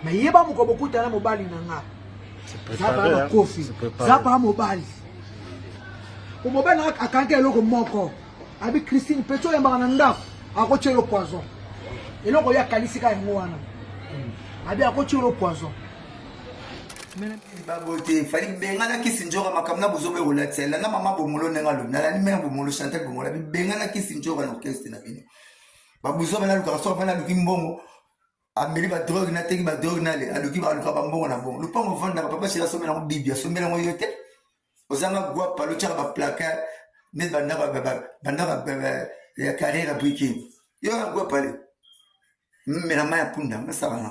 mais yeba mokolo bokuta na mobali na nga zaba na kofi zaba mobali po mobali na akangi eloko moko abi christine peto oyambaka na ndako akotya yo poison eloko ye akanisi ka yango wana abi akotya yo poison babote fali bengana kisi njoka makambo na bozoba ekolatisa elanda mama bomolo ndenge alobi nalandi mena bomolo chantel bomolo abi bengana kisi njoka na orkestre na bino babuzoba nalukaka soki afani aluki mbongo ameli ba drogue na teki ba drogue na le aluki ba luka ba mbongo na bongo lupango vanda ba papa sila somela ngo bibi asomela ngo yote ozanga gwa palo tshaka ba placard ne banda ba banda ba ya carrière briquet yo na gwa pale mela maya punda na sala na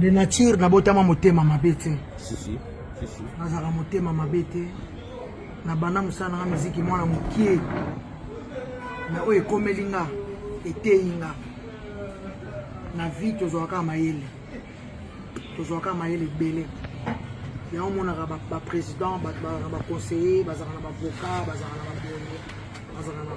de nature nabotama motema mabe te nazalaka motema mabe te na banda mosala nanga miziki mwana mokie na oyo ekomeli nga eteyi nga na vie tozwaka mayele tozwaka mayele ebele yango omonaka baprésident bato bazalaka na baconseiller bazalaka na bavoka bazalaka na baboye bazalaka na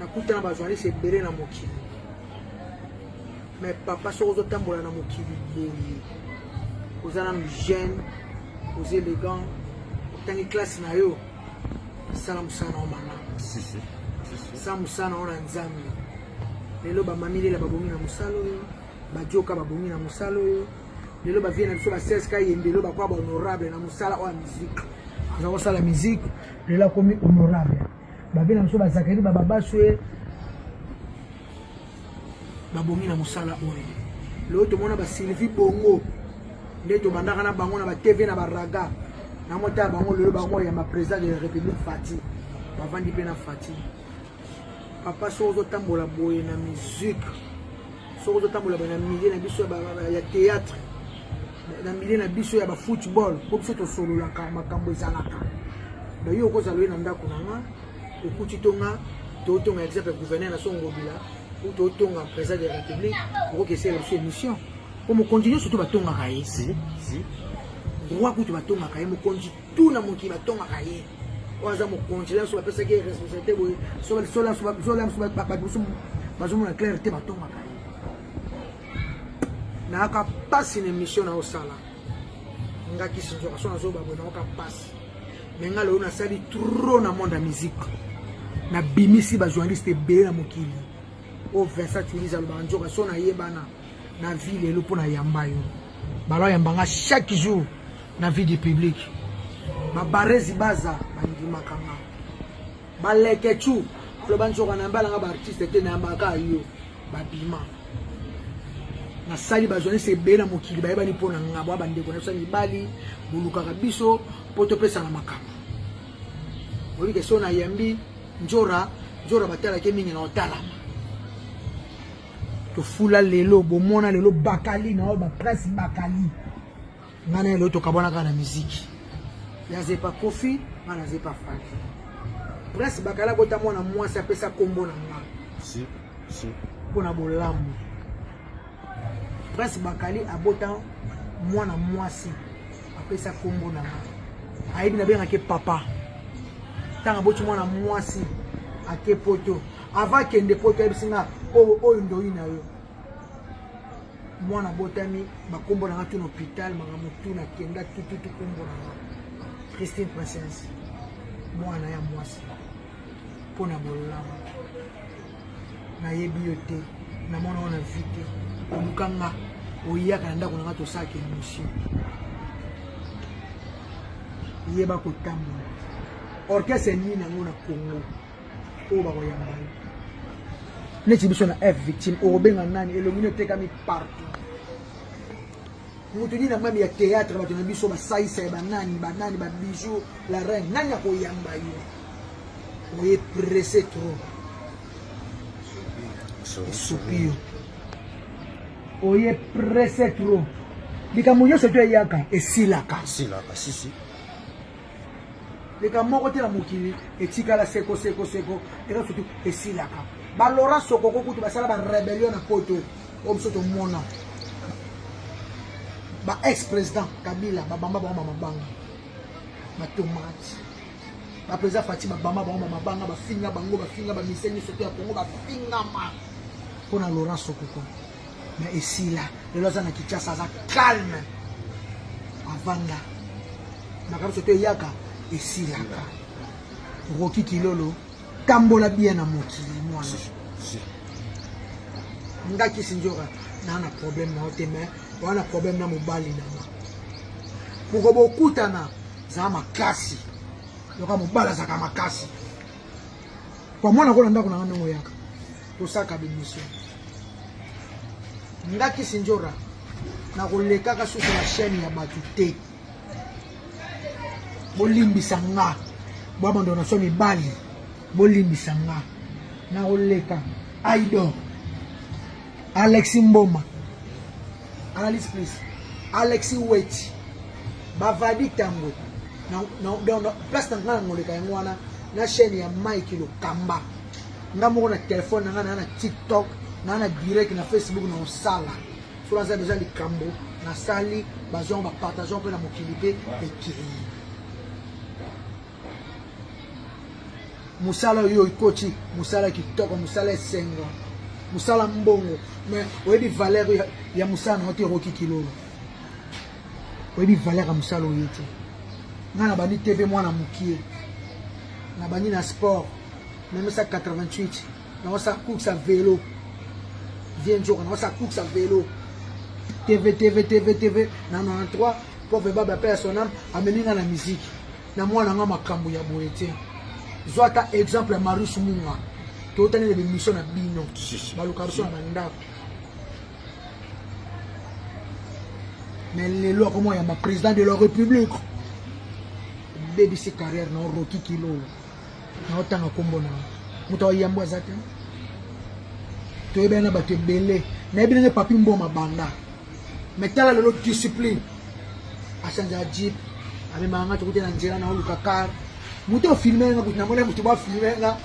nakuta na bajournaliste ebele na mokili mais papa soki ozotambola na mokili boye oza nanu jeune oza élégant otangi classe na yo sala mosala na yo malamu sa mosala na yo na nzambe lelo bamamilela babongi na mosala oyo bajoka babongi na mosala oyo lelo bavie na biso baseska yembelo bakwa bahonorable na mosala oyo ya miziki aza kosala miziki lelo akomi honorable babe na biso bazakeli bababaso ye babongi na mosala oyo lelo tomona basylvie bongo nde tobandaka na bango na batv na baraga na mota ya bango lelo bango oyamba président de la république fati bavandi mpe na fati papa soki ozotambola boye na musique soki ozotambola boye na milieu na biso ya théâtre na mile na biso ya bafootball mpo biso tosololaka makambo ezalaka bayo okozala oye na ndako na nga okuti to nga totonga exemple gouverneur na songobila ou totonga président de la république okoki esala biso émission mpo mokonzi nyonso to batongaka ye roi kutu batongaka ye mokonzi tu na mokili batongaka ye oyo aza mokonzi lanso bapesaki ye responsabilité boye solanso bato mosusu bazomona claire te batongaka ye nayaka mpasi na émission na osala nga kisinzoka so nazoba boye nayoka mpasi me nga lelo nasali trop na monde ya musique nabimisi bajournaliste ebele na mokili oyo vincent tulise alobaka nzoka so nayebana na vie lelo mpo nayamba yo balo ayamba nga chaque jour na vie du public babarezi baza bandimaka nga balekecu aloba nzoka nayambalanga baartiste te nayambaka yo babima basali bazwanisi ebele na mokili bayebani mpo na ngabo ya bandeko na biso ya mibali bolukaka biso mpo topesana makambo oyebi ke so nayambi njora njora batalaki mingi na otalama tofula lelo bomona lelo bakali na oyo baprince bakali nga na elo tokabwanaka na miziki ya zepa kofi nga na zepa fati prince bakala kota mwana mwasi apesa kombo na nga si, si. mpo na bolamu prince bakali abota mwana mwasi apesa kombo na nga ayebi nabengake papa ntango aboti mwana mwasi ake poto avant akende poto ayebisi nga oyo ndoyi na yo mwana botami bakombo na nga tuna hôpital makambo tuna kenda tututu kombo na nga christine princesse mwana ya mwasi mpo na bololamu nayebi yo te namona yo na vi te oluka nga oyaka na ndako na nga tosalaka émission yeba kotambola orchestre nini yango na congo oyo bakoyamba yo neti biso na f victime okobenga nani elongi no etekami partout moto nini na mami ya théâtre bato na biso basaisa ya banani banani babijou la reine nani akoyamba yo oye presse trop esopi yo oye presse trop likambo nyonso to eyaka esilaka esilaka sisi likambo moko te na mokili etikala seko seko seko eza surtout esilaka balora sokoko kutu basala barebellion na poto oyo biso tomona ba ex président kabila babamba bango bamabanga batomate baprésident fati babamba bango bamabanga bafinga bango bafinga bamisie nyonso te ya kongo bafingama mpo na laurent sokoko mais esila lelo aza na kinshasa aza calme avanda makambo soki eyaka esilaka roki kilolo tambola bien na mokili mwana nga kisinjora naa na problème na yo te mais oa na problème na mobali na nga moko bokutana zala makasi yoka mobali azalaka makasi Kwa mwana kona ndako na nga ndongo yaka. Tosaka bimiso. Nga Kisindjora na kolekaka susu na chaîne ya bato te. Bolimbisa nga. Bwa bando na so mibali. Bolimbisa nga. Na koleka. Aidor. Alexis Mboma. Analyse please. Alexis Weti. Bavadi Tango. Na, na, na, na, place na nga na ngoleka yango wana na chaîne ya Mike Lokamba. Nga moko na telefone na nga na na TikTok na na direct na Facebook na osala. So naza deja likambo nasali bazongo bapartageon mpe na mokili mpe ekei. mosala oyo ikoti mosala kitoko mosala esengo mosala mbongo mais oyebi valeur ya, ya mosala na yo te ekoki kilolo oyebi valeur ya mosala oye te ngai nabandi te mpe mwana mokie nabandi na sport memesa 88 naosa course ya velo vie nzoka naosa course ya velo tv tv tv tv na 93 pauvre baba pe ya sonam amemi ngai na miziki na mwana nga makambo ya boye te zwa ata exemple ya marius munga totani na bemission na bino baluka biso na bandako mais lelo akoma yamba président de la république obebisi carrière na oroki kilolo na otanga nkombo na moto ayambo aza te toyebani na bato ebele nayebi ndenge papi mboma banda mais tala lelo discipline achangeaka jeep amemaka nga tokuti na nzela naoluka car moto ofilme nga kuti namona moto bafilme nga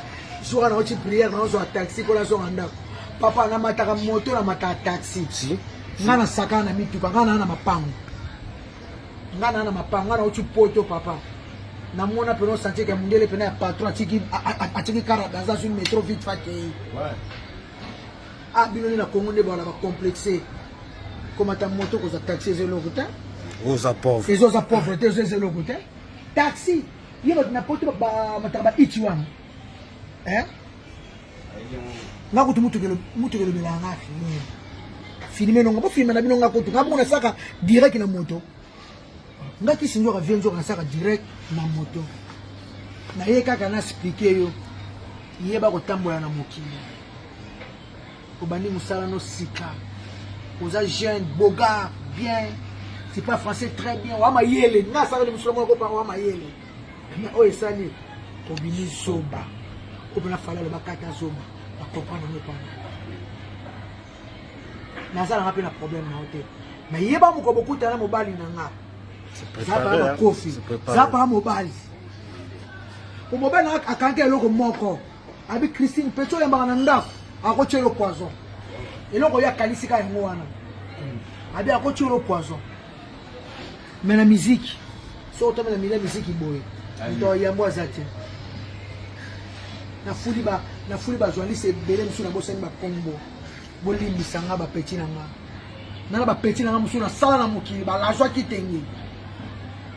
soka naoti priere naozwa taxi mpo nazonga ndako papa namataka moto namataka taxi nga nasakana na mituka nga naa na mapango nga naa na mapango nga naoti poto papa namona pena osantie ke mondele pena ya patron atiki kara dans une metro vite fakei Ah bino ni na Congo nde bana ba complexe. Komata moto koza taxi ezeloko te. Oza pauvre. Ezo za pauvre te ezo ezeloko te. Taxi ye bato na poto ba mataka ba iti wana. Hein? Nga kutu mutu kelo mutu kelo belanga fini. Filme nonga ba filme na bino nga kutu nga bona saka direct na moto. nga kisi nzoka vie nzoka nasaka direct na moto naye kaka na explike yo yeba kotambola na mokili obandi mosala no sika oza jeune bogard bien c'est pas français très bien wa mayele nga asakali mosolo moko pa wa mayele mais oyo esali obimi zoba oyo mpona fali aloba kata zoba bakomprendre yango epana naza nanga mpe na problème na yo te me yeba moko bokuta na mobali na nga zapa na kofi zapa mobali po mobali nanga akangi eloko moko abi christine peto oyambaka na ndako akotya yo poison eloko oyo akalisi ka yango wana abi akotya yo poison mais na miziki soki otomi na mila miziki boye moto ya yambo aza te nafuli bajournaliste ebele mosusu nabosani bakombo bolimbisa nga bapeti na nga nana bapeti na nga mosusu nasala na mokili balazwa kitenge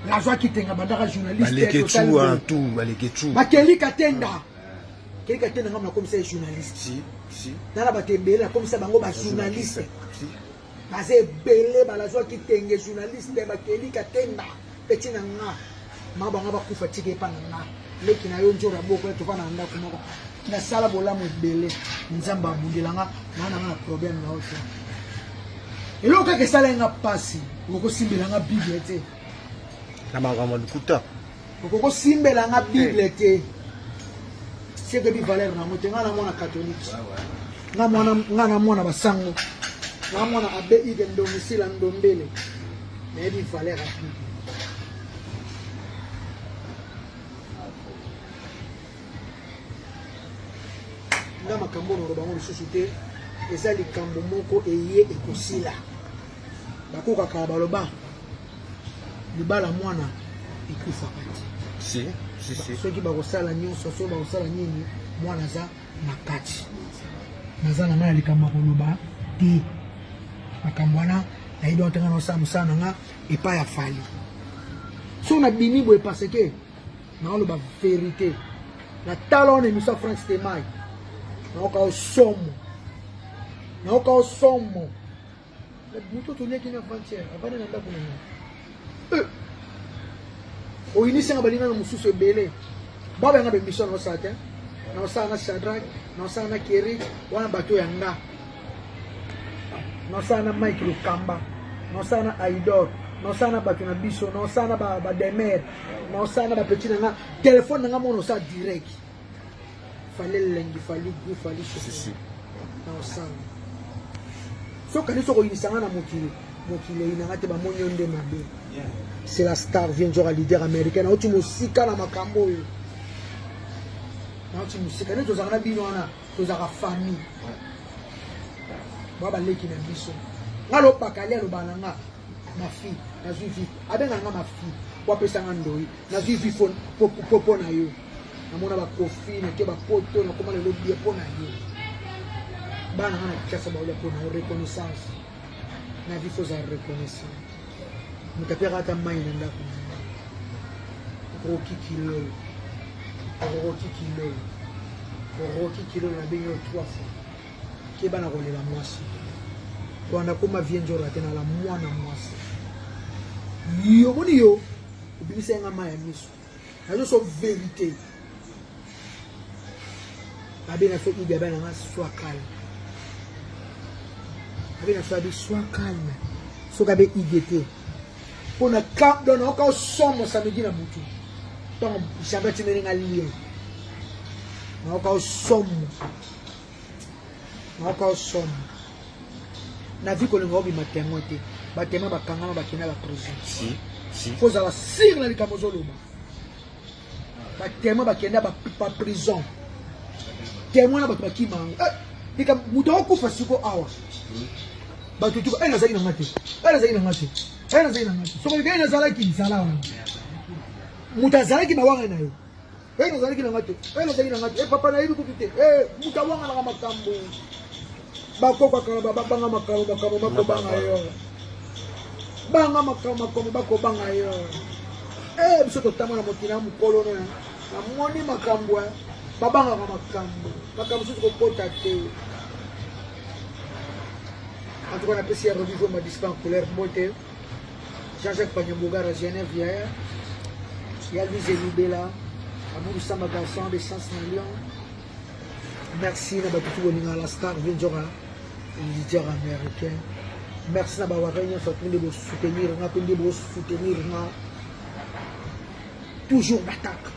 lazwa kitenge bandaka journalistebakeli katenda ah. keli katenda nga nakomisa ye journaliste nana bato ebele nakomisa bango bajournaliste baza ebele balazwaki tenge journaliste bakeli katemba peti na nga ma banga bakufa tika epa na nga leki na yo nzora boko tova na ndako moko nasala bolamu ebele nzambe abundela nga naa na nga na problème na yo te eloko kaka esalaki nga mpasi okosimbela nga bible te na makambo lokuta okoki osimbela nga bible eh. te sekebi valeur nango te ngai na mwana katolike ngai na mwana basango ngai mwana abe ide ndomisila ndombele nayebi valeur ya bible nga makambo oyo naloba yango lisusu te eza likambo moko eye ekosila bakokaka baloba libala mwana ekufaka te si, si, si. soki bakosala nyonso soki bakosala nini mwana aza na kati naza na ngai na likambo ya koloba te makambo wana nayebi otanga naosala mosala na nga epai ya fali so nabimi boye parce que naoloba verité na tala wana emission ya frank stemai naoka osomo naoka osomo moto toliaki na avant-hier avandi na ndako na nga eh! oyinisanga baninga na mosusu ebele baba yanga bemission na osala te na osala na shadrack na osala na keri wana bato ya nga na osala na mike lokamba na osala na aidor na osala na bato na biso na osala na bademer na osala na bapetit na nga telefone na nga mona osala direct fale elengi fali gu fali sisi na osanga soki kanisi okoyinisa nga na mokili mokili eyinanga te bamoni yo nde mabe c'est la star vient nzoka leader américain nauti mosika na makambo oyo nauti mosika nde tozalaka na bino wana tozalaka famille bwa baleki na biso nga lopakali aloba na nga mafi nazwi vi abenga nga mafi wapesa nga ndoi nazwi vi mpo na yo namona bakofi nake bapoto nakoma lelo bie mpo na yo bana nga na kinshasa baolia mpo na yo reconnaissance na vie fozala reconnaissant moto apekaka ata mai na ndako na yo roki kilolo roki kilolo roki kilolo nabengi yo trois fois keba na kolela mwasi wanda koma vie njora te nala mwana mwasi yo moni yo obimisa yanga mai ya miso nazo so verite abe na so idi abe na nga soit calme abe na so abi soit calme soki abe idi te mpo na camp don naoka osomo samedi na butu ntango jambe atimeli nga lien naoka osomo nayoka yo somo na vie kolinga obima temoin te batemoin bakangama bakenda la prison fo ozala sire na likambo ozoloba batemoin bakenda baprison temoin na bato bakima yango eh, likambo moto akokufa siko awa bato tuka ene eh, azalaki na nga te ene eh, azalaki na nga te ene azalaki na nga te sokolikani nazalaki zala wana moto azalaki na wanga na yo Eh, nazalaki na ngai te eh, nazalaki na ngai te eh, papa nayebi kutu te moto awanganaka makambo bakokakala babanga makambo makambo bakobanga yo banga makambo makambo bakobanga yo biso totanga na mokili ya mokolo na namoni makambo babangaka makambo makambo mosusu kokota te en tout cas napesi ya religion madispan couleur mbote Jean-Jacques Panyambogara, Genève, hier. Il y a Louise Elubela, Amour Samba Vincent, des Sens Millions. Merci na batutu bolinga la star Vindjora, leader américain. Merci na bawaka nyonso atu nde bosoutenir nga mpe nde bosoutenir nga toujours d'attaque.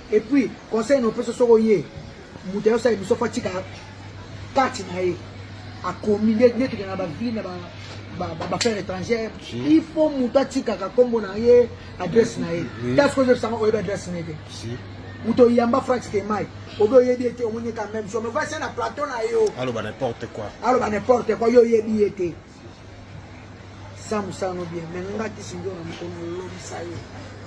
Et puis, conseil non peso soko ye, mutu ayo sa emission fa tika kati na ye. A komi ne ne kina ba vie na ba ba ba, ba faire étrangère. Il faut mutu atika ka kombo na ye, adresse na ye. That's cause ça oyebi adresse na ye. Si. Mutu yamba Frank Stemay. Obi oyebi ete omoni ka même chose. Mais voici na plateau na yo. Alo ba n'importe quoi. Alo ba n'importe quoi yo oyebi ete. za mosala no bien mais nga kisi ndio na mokolo olobisa yo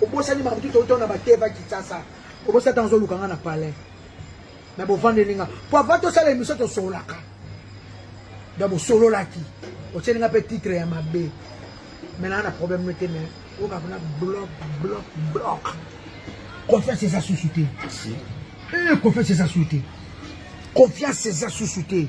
obosani makambo tuto oto na bateva kitasa obosani ntango ozoluka nga na palais me bovandeli nga po ava tosala emission tosololaka donc bosololaki otyeli nga mpe titre ya mabe me naa na problème no te mais oyoka kuna bloc bloc bloc confiance eza susu te eh, confiance eza susu te confiance eza susu te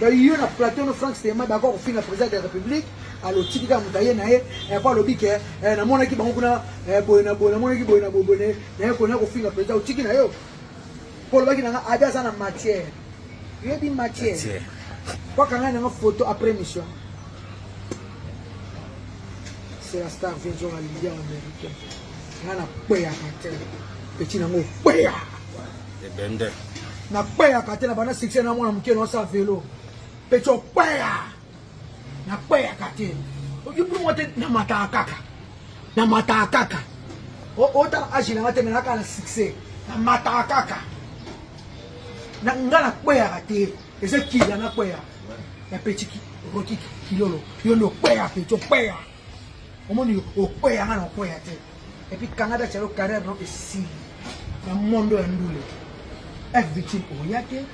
donc yo na plateau no frank stema d'accord kofinga président de la république alotiki kaka moto aye na ye epo alobi ke eh, namonaki bango kuna eh, boye na boye namonaki boye na boboye naye kona kofinga président otiki na yo mpo olobaki nanga abi aza na matière yoyebi matière kwakanga nanga photo après mission c'est la star vision ya leader américain nga na kweyaka te peti nango okweya ebende na kweyaka te na banda succès na mwana moke nosa velo peti okweya na kweyaka te okibumo te na mataka kaka na mataka kaka otala age nanga te menaka na succès na mataka kaka na nga na kweyaka te eza kila na kweya ya peti roki kilolo yo nde okweya peti okweya omoni okweya nga na okweya te epuis kangada calo carrière no esili na mondo ya ndule fvictime oya te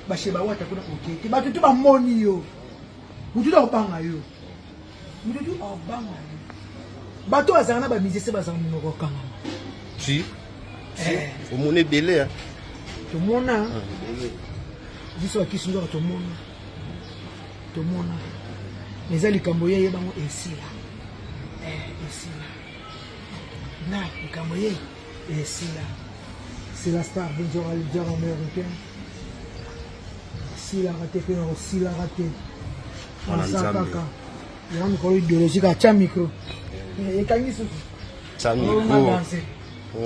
bashe bawata kuna oke te bato tu bamoni yo motu tu akobanga yo motu tu akobanga yo bato bazala na bamisese bazala monoko okangama si eh. omona ebele tomona ah, biso bakisi nzoka tomona tomona eza likambo ye ye bango esila eh, esila na likambo ye esila c'est la star bonjour à leader américain esilaka te mpe na kosilaka te aza kaka yango mikolo idéologique atya micro eh, ekangi susu onga danse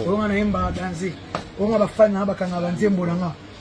onga nayemba danse onga bafani na bakanga banzembo na nga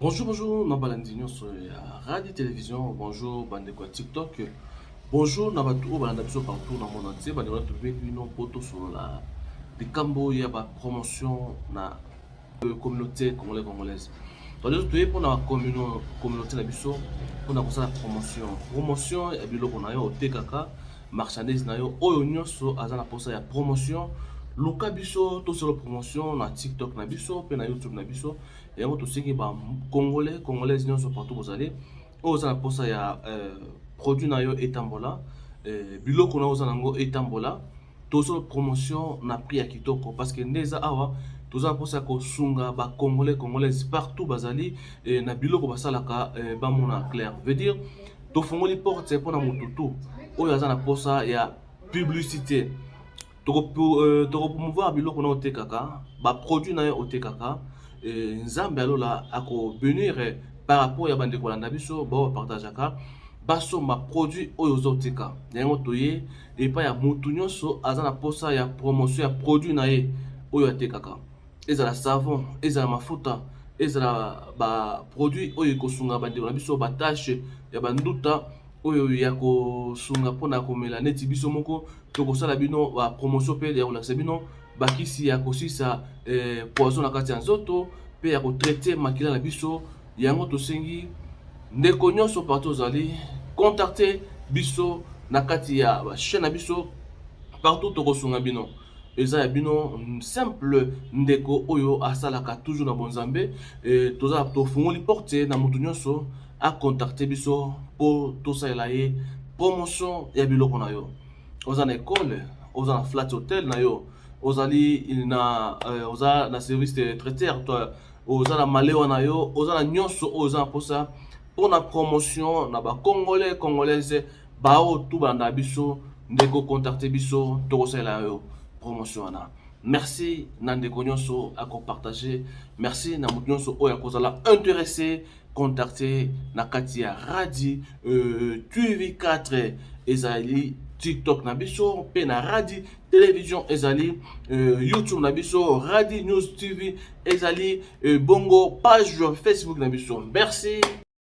Bonjour, bonjour, na balandi nyonso ya radio television, bonjour bandeko ya TikTok, bonjour na bato oyo balanda biso partout na monde entier, bandeko bato mpe bino mpo tosolola likambo ya ba promotion na euh, communauté congolais congolaise. Donc toye mpo na communauté na biso mpo na kosala promotion promotion ya biloko na yo otekaka marchandise na yo oyo nyonso aza na mposa ya promotion luka biso tosolo promotion na tiktok na biso mpe na youtube na biso yango tosengi ba congolais congolaise nyonso partout bozali oyo oza na mposa ya euh, produit na yo etambola euh, biloko na yo oza na yango etambola tozo promotion na prix ya kitoko parce que nde eza awa toza na mposa ya kosunga bacongolais congolaise partout bazali euh, na biloko basalaka bamona clair veut dire tofungoli porte mpo na motutu oyo aza na mposa ya publicité tokopromouvoir euh, biloko na otekaka baproduit na yo otekaka euh, nzambe ya lola akobenir euh, par rapport ya bandeko landa biso bao bapartageaka basomba produit oyo ozotika yango toye epai ya motu nyonso aza na mposa ya promotion ya produit na ye oyo atekaka ezala savon ezala mafuta ezala baproduit oyo ekosunga bandeko na biso batashe ya banduta oyo ya kosunga mpo na komela neti biso moko tokosala bino ba promotion mpe ya kolakisa bino bakisi ya kosisa eh, poison na kati ya nzoto mpe ya kotraite makila na biso yango tosengi ndeko nyonso partout ozali contacte biso na kati ya bachaine na biso partout tokosunga bino eza ya bino simple ndeko oyo asalaka toujours na bonzambe e, toza tofungoli porte na moto nyonso akontakte biso mpo tosalela ye promotion ya biloko na yo oza na ekole oza na flat hotel na yo ozali na euh, oza na service de traiteur to oza na malewa na yo oza na nyonso oyo oza na mposa mpo na promotion na bacongolais congolaise Ba oyo tout balanda biso ndeko contacte biso toko salela yo promotion wana. Merci na ndeko nionso ako partager, merci na mutu nionso oyo ako zala interesse contacte na kati ya Radi euh, TV 4 ezali TikTok na biso pe na Radi television ezali euh, YouTube na biso Radi News TV ezali euh, bongo page Facebook na biso. Merci.